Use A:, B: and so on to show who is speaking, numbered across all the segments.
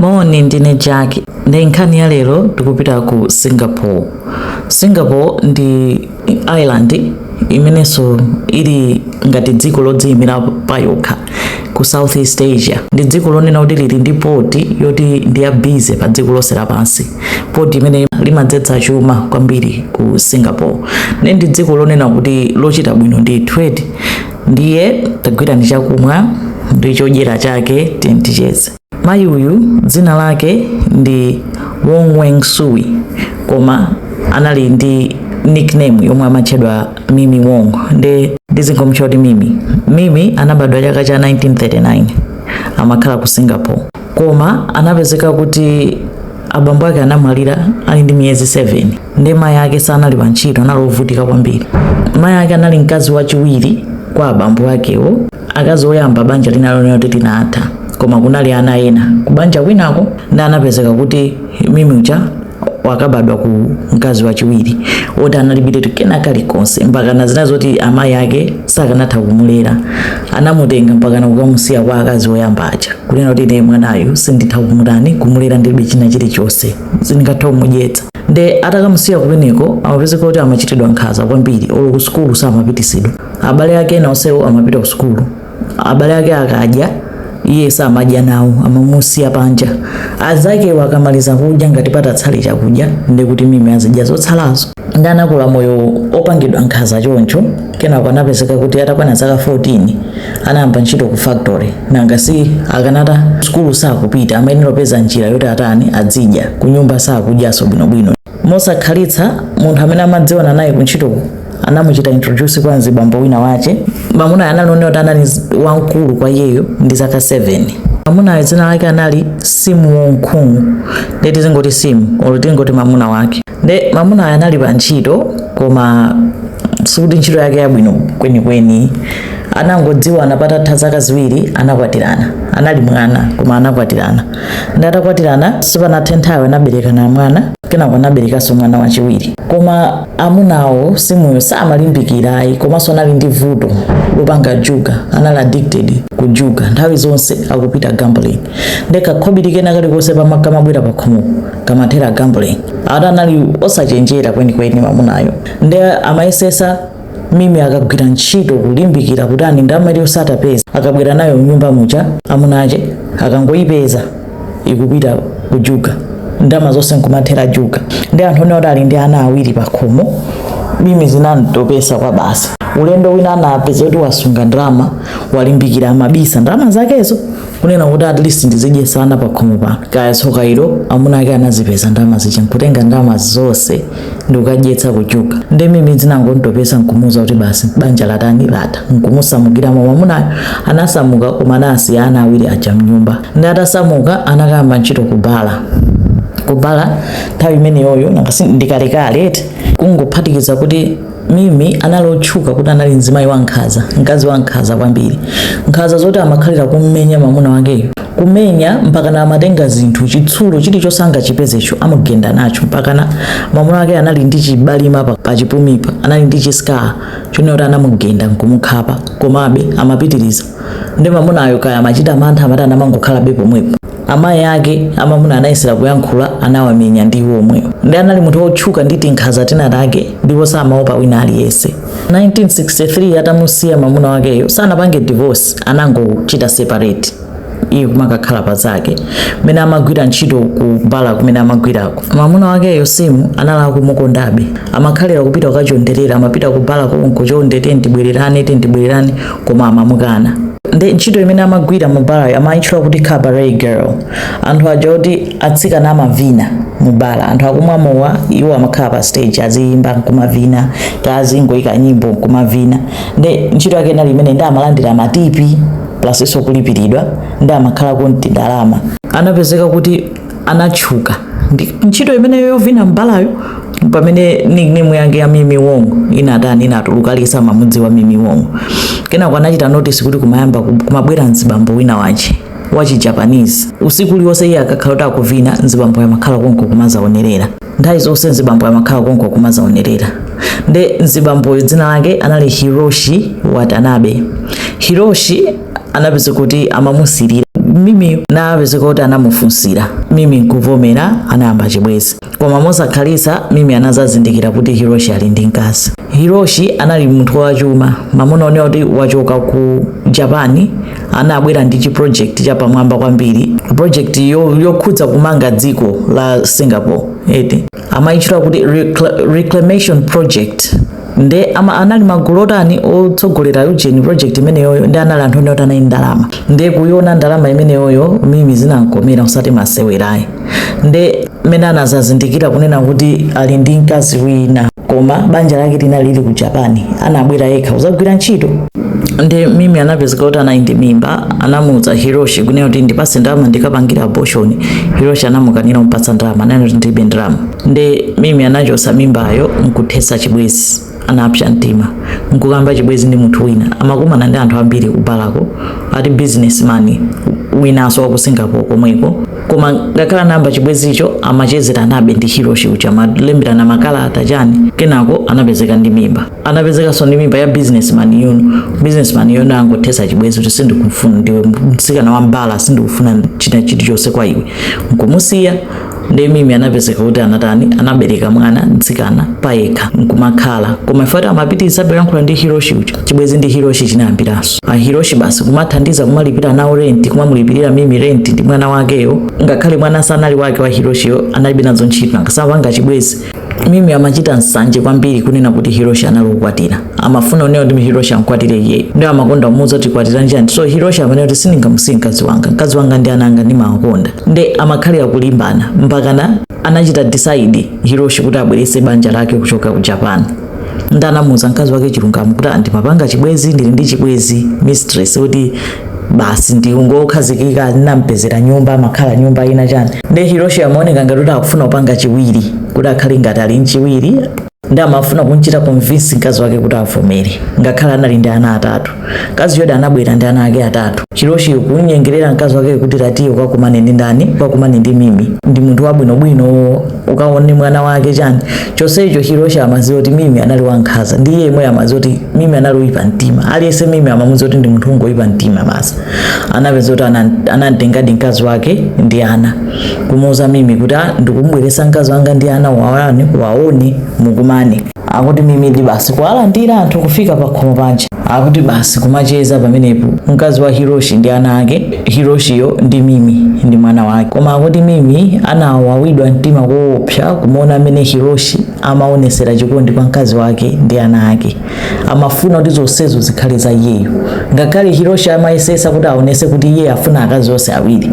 A: Moni, ndine Jack. Nde nkhani ya lero tikupita ku Singapore. Singapore ndi island imenenso ili ngati dziko lodziyimira pa yokha ku Southeast Asia. Ndi dziko lonena kuti lili ndi poti yoti ndi ya busy pa dziko lonse lapansi. Poti imene limadzetsa chuma kwambiri ku Singapore. Nde ndi dziko lonena kuti lochita bwino ndi trade. Ndiye tagwirani chakumwa ndi chodyera chake tiyeni ticheze. Mayi uyu dzina lake ndi Wong Weng Sui koma anali ndi nickname yomwe amatchedwa Mimi Wong ndiye ndizingomtcha kuti Mimi. Mimi anabadwa chaka cha 1939 amakhala ku Singapore koma anapezeka kuti abambo ake anamwalira ali ndi miyezi 7 ndiye mayi ake sanali pa ntchito anali ovutika kwambiri. Mayi ake anali mkazi wachiwiri kwa abambo akewo akazi oyamba banja linali lonena kuti linatha koma kunali ana ena kubanja kwinako nde anapezeka kuti mimi uja wakabadwa ku mkazi wachiwiri oti analibiretu kena kalikonse mpakana zina zoti amayi ake sakanatha kumulera anamutenga mpakana kukamusiya kwa akazi oyamba aja kunena kuti ine mwanayu sinditha kumutani kumulera ndilibe china chilichonse sindingatha kumudyetsa nde atakamusiya kumeneko amapezeka kuti amachitidwa nkhanza kwambiri olo ku sukulu samapitisidwa abale ake ena onsewo amapita ku sukulu abale ake akadya iye samadya nawo amamusiya panja azakewo akamaliza kudya ngati patatsala chakudya ndekuti mimi azidya zotsalazo nde anakula moyo opangidwa nkhanza choncho kenako anapezeka kuti atakwana zaka 14 anayamba ntchito ku factory nanga si akanata sukulu sakupita amayenera kupeza njira yoti atani adzidya kunyumba sakudyaso bwinobwino mosakhalitsa munthu amene amadziwana naye kuntchito anamuchita introduce kwa mzibambo wina wache mamunayo anali onena kuti anali wamkulu kwa iyeyo ndi zaka 7 mamunayo dzina lake anali simu wonkhumu nde tizingoti simu olo tizingoti mamuna wake nde mamunayo anali pa ntchito koma sikuti ntchito yake yabwino kwenikweni anangodziwana patatha zaka ziwiri anakwatirana anali mwana koma anakwatirana nde atakwatirana sipanathe nthawi anaberekana mwana kenako anaberekanso mwana wachiwiri koma amunawo simuyo samalimbikira ayi komanso anali ndi vuto lopanga juga anali addicted ku juga nthawi zonse akupita gambling nde kakhobiri kena kalikonse pakamabwera pakhomo kamathera gambling ati anali osachenjera kwenikweni mamunayo nde amayesesa mimi akagwira ntchito kulimbikira kuti ani ndalama osatapeza akabwera nayo mnyumba muja amunache akangoyipeza akupita kujuga ndalama zonse nkumathera juga ndi anthu onena kuti ali ndi ana awiri pakhomo mimi zinamtopesa kwa basi ulendo wina anapeza kuti wasunga ndalama walimbikira amabisa ndalama zakezo kunena kuti at least ndizidye sana pa khomo pano kaya tsoka ilo amuna ake anazipeza ndalama zija nkutenga ndalama zonse ndikukadyetsa kuchuka ndi mimi zinangomutopetsa nkumuuza kuti basi banja latani latha nkumusamukira mwamunayo anasamuka koma anasiya ana awiri aja mnyumba nde atasamuka anakayamba ntchito ku bala ku bala nthawi imeneyoyo ndikale kale eti kungophatikizapo kuti Mimi anali otchuka kuti anali mzimayi wankhanza, mkazi wankhanza kwambiri. Nkhanza zoti amakhalira kummenya mwamuna wakeyo, kumenya mpakana amatenga zinthu, chitsulo chilichonse angachipezecho amugenda nacho mpakana mwamuna wake anali ndi chibalima pachipumipa, anali ndi chi scar choonekera kuti anamugenda nkumukhapa komabe amapitiriza. nde mamunayo kaya amachita mantha amatani amangokhalabe pomwepo amayi ake amamuna anayesera kuyankhula anawamenya ndi iwo omwewo nde anali munthu wotchuka ndi tinkhaza tina take ndipo samaopa wina aliyense 1963 atamusiya mamuna wakeyo sanapange divorce anangochita separate iye kumakakhala pa zake mmene amagwira ntchito ku bala kumene amagwirako mamuna wakeyo Sim anali akumukondabe amakhalira kupita kukachonderera amapita ku bala konko chonde tiye tibwererane tiye tibwererane koma amamukana nde ntchito imene amagwira mu barayo amayitchula kuti cabaret girl anthu aja oti atsikana amavina mu bara anthu akumwa mowa iwo amakhala pa stage aziyimba nkumavina kaya azingoyika nyimbo nkumavina nde ntchito yake inali imeneyo nde amalandira matipi plus nso kulipiridwa nde amakhalako ndi ndalama anapezeka kuti anatchuka ndi ntchito imeneyo yovina mbalayo pamene nickname yake ya Mimi Wong inatani inatuluka aliyesa amamudziwa Mimi Wong kenako anachita notice kuti kumabwera mzibambo wina wache wachi Japanese usiku uliwonse iye akakhala kuti akuvina mzibamboyo amakhala konko kumazamuonerera nthawi zonse mzibamboyo amakhala konko kumazamuonerera nde mzibamboyo dzina lake anali Hiroshi Watanabe Hiroshi anapezeka kuti amamusirira mimi anapezeka kuti anamufunsira mimi nkuvomera anayamba chibwezi koma mosakhalitsa mimi anazazindikira kuti hiroshi ali ndi mkazi hiroshi anali munthu wachuma mungaone kuti wachoka ku japani anabwera ndi chiprojekti chapamwamba kwambiri projekti yokhudza kumanga dziko la singapore ete amayitchula kuti reclamation project nde ama anali magulu otani otsogolera ujeni project imeneyoyo nde anali anthu ene oti anali ndi ndalama nde kuiona ndalama imeneyoyo mimi zinamkomera usati masewerayi nde mmene anazazindikira kunena kuti ali ndi mkazi wina koma banja lake linali lili ku japan anabwera yekha kuzagwira ntchito nde mimi anapezeka kuti anali ndi mimba anamuuza hiroshi kunena kuti ndipase ndalama ndikapangire abortion hiroshi anamukanira kumpatsa ndalama ananena kuti ndilibe ndalama nde mimi anachosa mimbayo nkuthesa chibwezi anapsa mtima nkuyamba chibwezi ndi munthu wina amakumana ndi anthu ambiri kubalako ati businessman winanso wa ku singapore komweko koma ngakhale anayamba chibwezicho amachezeranabe ndi hiroshi uja kumalemberana makalata chani kenako anapezeka ndi mimba anapezekanso ndi mimba ya businessman-yo nde businessman-yo anangothetsa chibwenzi kuti sindikufuna ndiwe mtsikana wa mbala sindikufuna china chilichonse kwa iwe nkumusiya nde mimi anapezeka kuti anatani anabereka mwana mtsikana payekha nkumakhala koma eti amapitiriza kuyankhula ndi hiroshi uja chibwenzi ndi hiroshi chinayambiranso a hiroshi basi kumathandiza kumalipira nawo renti kumamulipirira mimi renti ndi mwana wakeyo ngakhale mwana sanali wake wa hiroshiyo analibe nazo ntchito akamapanga chibwenzi mimi amachita nsanje kwambiri kunena kuti hiroshi anali okwatira amafuna zonena kuti hiroshi amkwatire iyeyo nde amakonda kumuuza kuti undikwatira liti so hiroshi amanena kuti sindingamusiye mkazi wanga mkazi wanga ndi ana anga ndimawakonda nde amakhalira kulimbana mpakana anachita decide hiroshi kuti abwerese banja lake kuchoka ku japan nde anamuuza mkazi wake chilungamo kuti ah ndimapanga chibwezi ndili ndi chibwezi mistress kuti basi ungokhazikika ndinampezera nyumba amakhala nyumba ina chani nde hiroshi amaoneka ngati kuti akufuna kupanga chiwiri kuti akhale ngati ali mchiwiri nde amafuna kunchita convince mkazi wake kuti avomere ngakhale anali ndi ana atatu mkaziyodi anabwera ndi ana ake atatu hiroshi kunyengerera mkazi wake kuti ah tiye ukakumane ndi ndani ukakumane ndi mimi ndi munthu wabwinobwino ukaone mwana wake chani chonsecho hiroshi amaziwa kuti mimi anali wankhaza ndi iye yemweyo amaziwa kuti mimi anali woyipa mtima aliyense mimi amamuziwa kuti ndi munthu wongoyipa mtima basi anapezeka kuti ana- anamtengadi mkazi wake ndi ana kumuuza mimi kuti "Ah, ndikubweresa mkazi wanga ndi ana uwaone uwaone mukumane akuti mimidi basi kuwalandira anthu kufika pakhomo panja akuti basi kumacheza pamenepo mkazi wa hiroshi ndi ana ake hiroshiyo ndi mimi ndi mwana wake koma akuti mimi anawawidwa mtima koopsa kumaona mmene hiroshi amaonesera chikondi kwa mkazi wake ndi ana ake amafuna kuti zonsezo zikhale za iyeyo ngakhale hiroshi amayesesa kuti aonese kuti iye akufuna akazi onse awiri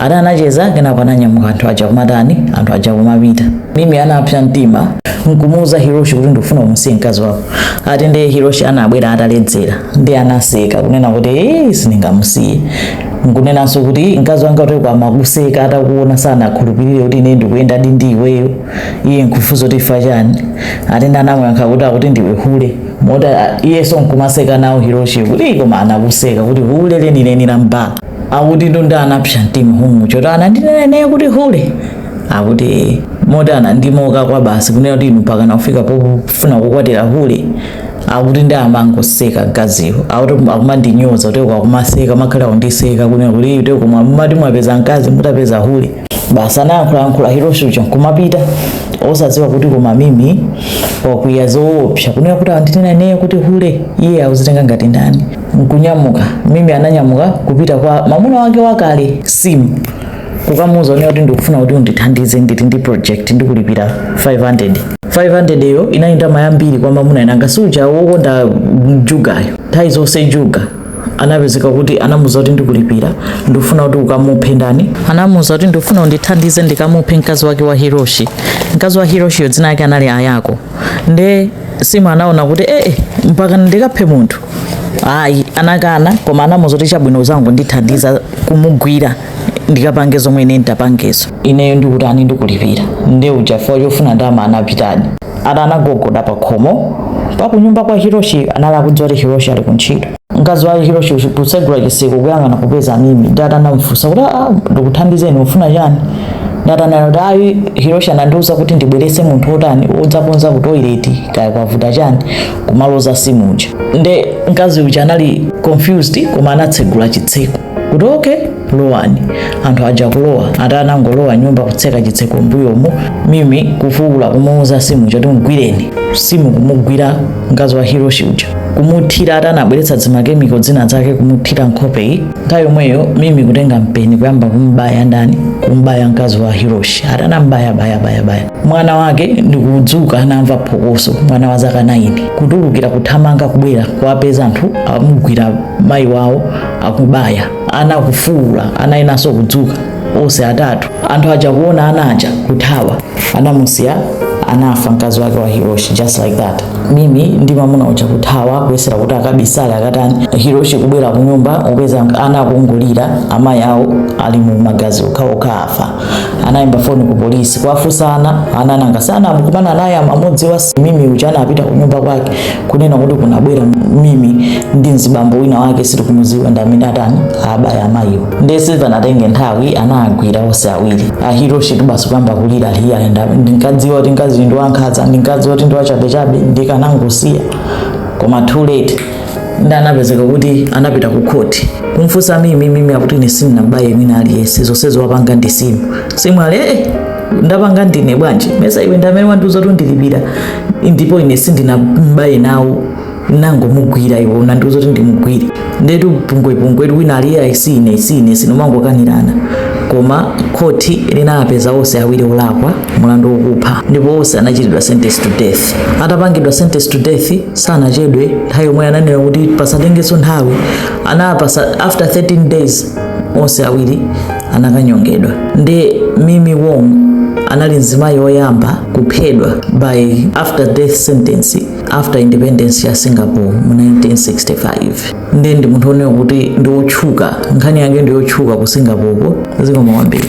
A: Ata anacheza kenako ananyamuka anthu aja kumatani anthu aja kumapita. Mimi anapsa mtima nkumuuza Hiroshi kuti ndikufuna umusiye mkazi wako. Ati ndiye Hiroshi anabwera ataledzera nde anaseka kunena kuti ee eh, sindingamusiye. Nkunenanso kuti mkazi wanga kuti amakuseka atakuona sanakhulupirire kuti ine ndikuyendadi ndi iweyo. Iye nkufunsa kuti ifa chani. Ati nde anamuyankha kuti akuti ndiwe hule. Moti iyenso nkumaseka nawo Hiroshi kuti koma anakuseka kuti hule lenileni la mbala. akuti nde anapsa mtima umu choti anandinena naye kuti hule akuti moti anandimoka kwa basi kunena kuti inu pakana kufika pofuna kukwatira hule akuti nde amangoseka mkaziyo akuti akumandinyoza kuti akumaseka amakhala kundiseka kunena kuti kuti kumwa mumati mwapeza mkazi mutapeza hule basi anayankhulayankhula hiroshi uja nkumapita osadziwa kuti koma mimi wakwiya zoopsa kunena kuti andinena naye kuti hule iye akuzitenga ngati ndani nkunyamuka mimi ananyamuka kupita kwa mamuna wake wakale simu kukamuuza kunena kuti ndikufuna kuti undithandize ndili ndi project ndikulipira 500 500 yo inali ndalama yambiri kwa mamuna nanga si uja wokonda njugayo nthawi zonse juga anapezeka kuti anamuza kuti ndikulipira ndikufuna kuti ukamuphe ndani anamuza kuti ndikufuna undithandize ndikamuphe mkazi wake wa hiroshi mkazi wa hiroshiyo dzina lake anali ayako nde simu anaona kuti ee eh, eh, mpaka ndikaphe munthu ayi anakana koma anamuuza kuti chabwino uzangondithandiza kumugwira ndikapange zomwe ine nditapangezo ineyo ndikutani ndikulipira nde uja pofuna ndama anapitadi ati anagogoda pa khomo pakunyumba kwa hiroshi anali akudziwa kuti hiroshi ali kuntchito mkazi wake hiroshi kutsegula chiseko kuyang'ana kupeza mimi nde ati anamufunsa kuti "Ah, ndikuthandizeni ufuna chani nde ati anati kuti ayi hiroshi anandiuza kuti ndibweretse munthu wotani odzakonza ku toileti kaya kwavuta chani kumuloza simu uja nde mkazi uja anali confused koma anatsegula chitseko kuti okay lowani anthu aja kulowa ati anangolowa mnyumba kutseka chitseko mbuyomo mimi kufuula kumuuza simu uja kuti mgwireni simu kumugwira mkazi wa hiroshi uja kumuthira ati anabweretsa zimakemiko zina zake kumuthira nkhopeyi nthawi yomweyo mimi kutenga mpeni kuyamba kumbaya ndani kumbaya mkazi wa hiroshi ati anambaya baya baya baya mwana wake ndikudzuka anamva phokoso mwana wa zaka 9 kutulukira kuthamanga kubwera kuwapeza anthu amugwira mayi wawo akubaya ana kufuula ana enanso kudzuka onse atatu anthu aja kuona ana aja kuthawa anamusiya anafa mkazi wake wa hiroshi just like that mimi ndi mamuna uja kuthawa kuyesera kuti akabisale akatani hiroshi kubwera kunyumba kupeza ana akungolira amayi awo ali mu magazi okhaokha afa anayimba foni ku polisi kuwafunsa ana ana nanga si anakumana naye amamudziwa mimi uja anapita ku nyumba kwake kunena kuti kunabwera mimi ndi mzibambo wina wake sitikumudziwa ndi amene atani abaya amayiwo ndiye sizinatenge nthawi anawagwira onse awiri ahiroshi nso basi kuyamba kulira iya nde ndinkadziwa kuti mkazi ndi wankhaza ndinkadziwa kuti ndi wachabechabe ndikanangomusiya koma too late nde anapezeka kuti anapita ku khoti kumfunsa mimi mimi akuti ine sindinabaye mwina aliyense zonsezo wapanga ndi simu simu ali ee ndapanga ndine bwanji mesa iwe ndi amene wandiuza kuti ndikulipira ndipo ine sindinambaye nawo ndinangomugwira iwe unandiuza kuti ndimugwire ndetu pungwepungwe wina aliyense si ine si ine kumangokanirana koma khoti linapeza onse awiri olakwa mulandu wokupha ndipo onse anachitidwa sentence to death atapangidwa sentence to death sanachedwe nthawi yomweyo ananena kuti pasatengenso nthawi anapasa after 13 days onse awiri anakanyongedwa nde mimi wong anali mzimayi woyamba kuphedwa by after death sentence after independence ya singapore mu 1965 nde ndi munthu onena kuti ndi wotchuka nkhani yake ndi yotchuka ku singapore ko zikomo kwambiri